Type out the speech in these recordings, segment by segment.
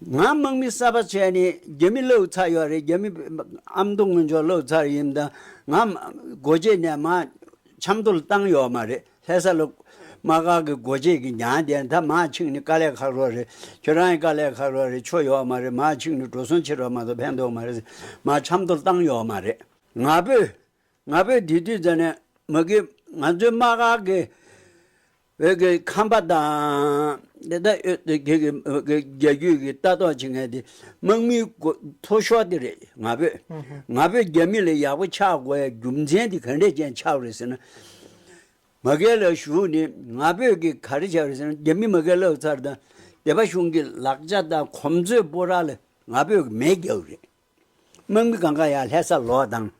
ང་དམག་མི་གསར་པ་བྱས་ནས་རྒྱ་མི་བསླེབས་ཚར་ཡོད་རེད་རྒྱ་མི་ཨ་མདོ་སྔོན་ཆོག་བསླེབས་ཚར་ཡིན་དང་ང་སྒོ་འབྱེད་ནས་མ་ཆབ་མདོ་ལ་བཏང་ཡོད་མ་རེད་ལྷས་ས་ལོ་མ་ག་གི་སྒོ་འབྱེད་ཀྱི་གྱང་དེ་ད་མ་ཕྱིང་ནི་དཀའ་ལས་ཁག་རོགས་རེད་ཁྱོད་རང་གི་དཀའ་ལས་ཁག་རོགས་རེད་ཆོ་ཡོད་མ་རེད་མ་ཕྱིང་ནི་འགྲོ་སོང་ཕྱི་རོལ་མ་ཚོ་ཕན་ཐོག་མ་རེད་མ་ཆབ་མདོ་ལ་བཏང་ཡོད་མ་རེད། ང་བོད། ང་བོད་དེ་དུས་ཚོད་ནས་མི་དགོས་ང་ཚོའི་མ་ག་གི་བོད་ཀྱི་ཁམས་པ་དང། དེ་དག་ཡོད་དུ་གྱུར་གྱི་བོད་ཀྱི་རྒྱལ་རྒྱུད་ཀྱི་ལྟ་རྟོག་བྱེད་མཁན་དེ་དམག་མིའི་མཐོ་ཤོར་དེ་རེད་ང་ཕོད། ང་ཕོད་རྒྱ་མི་ལ་ཡག་པོ་ཆགས་དགོས་པའི་རྒྱུ་མཚན་དེ་ག་འདྲས་ཅན་ཆགས་རེད་ཟེར་ན། མ་སྐལ་ལ་ཞུགས་ནས་ང་ཕོད་ཀྱི་ག་རེ་བྱ་རེད་ཟེར་ན་རྒྱ་མི་མ་སྐལ་ལག་ཚར་དང་སྡེ་པ་གཞུང་གི་ལག་ཆ་དང་གོམས་ཚོད་སྤོ་ར་ལ་ང་ཕོད་ཀྱི་མེད་རྒྱག་རེད། དམག་མི་གང་གང་ཡང་ལྷད་ས་ལོག་དང།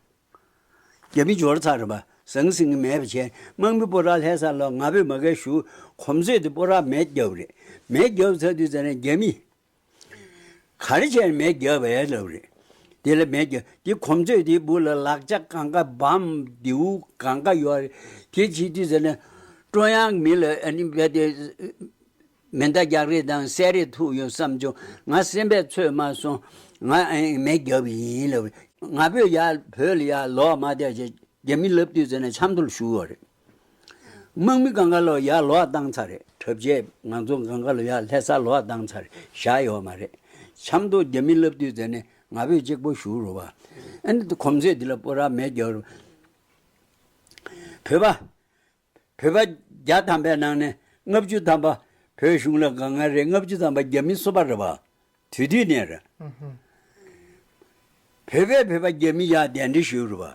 རྒྱལ་པོའི་སྦྱོར་ཚར་རེད་པ། ཟང་ཟིང་གི་མེད་པ་བྱས། དམག་མི་པོ་ར་ལྷས་ས་ལོ་ང་པོས་མ་གལ་ཞུ། གོམ་བཟོས་ཏེ་པོ་ར་མེ་བརྒྱབ་རེད། མེ་བརྒྱབ་ཚར་དུས་ཚར་ནས་རྒྱལ་མི། ག་རེ་བྱས་ནས་མེ་བརྒྱབ་བས་ལབ་རེད། དེ་ལ་མེ་བརྒྱབ། དེ་གོམ་བཟོས་ཏེ་སྦུག་ལ་ལག་ལྕགས་གང་ག་བམ། རྡེའུ་གང་ག་ཡོད་རེད། དེ་བྱས་དུས་ཚར་ནས། ཀྲོང་དབྱང་གི་མི་ལ། མེ་མདའ་རྒྱག་རེས་དང་བསད་རེས་ཐུག་ཡོད་བསམ་བྱུང། ང་སེམས་པས་ཚོད་མ་སོང། ང་ཨེ་མའི་རྒྱབ་བཞིན་ཡིན་ལབ། ང་བོད་ཡ། བོད་ལ་ཡ། ལོག་མ་བསྡད་ཅེས་རྒྱ་མིས་ལབ་དུས་ཟེར་ནས་ཆབ་མདོ་ལ་བཞུགས་ཡོད་རེད། དམག་མི་གངྒཱ་ལོག་ཡ་ལོག་བཏང་ཚར་རེད་གྲབས་རྗེས་ང་ཚོ་གངྒཱ་ལོ་ཡ་ལྷས་ས་ལོག་བཏང་ཚར་རེད་བཞག་ཡོད་མ་རེད། ཆབ་མདོ་རྒྱ་མིས་ལབ་དུས་ཟེར་ནས་ང་བོད་གཅིག་པོ་བཞུགས་རོགས། ཨེ་འདི་གོམས་ཚོད་འདི་ལ་པོ་ར་མེད་རྒྱབ། བོད་པ། བོད་པ་བརྒྱ་ཐམ་པའི་ནང་ནས་ལྔ་བཅུ་ཐམ་པ་བོད་གཞུང་ལ་དགའ་ངར་རེད་ལྔ་བཅུ་ཐམ་པ་རྒྱ་མི་གསོད་པ་རེད་བ། དུས་དུས་ནས་རེད། བོད་པས་བོད་པ་རྒྱ་མི་ཡག་གདན་འདྲེན་ཞུས་རེད་བ།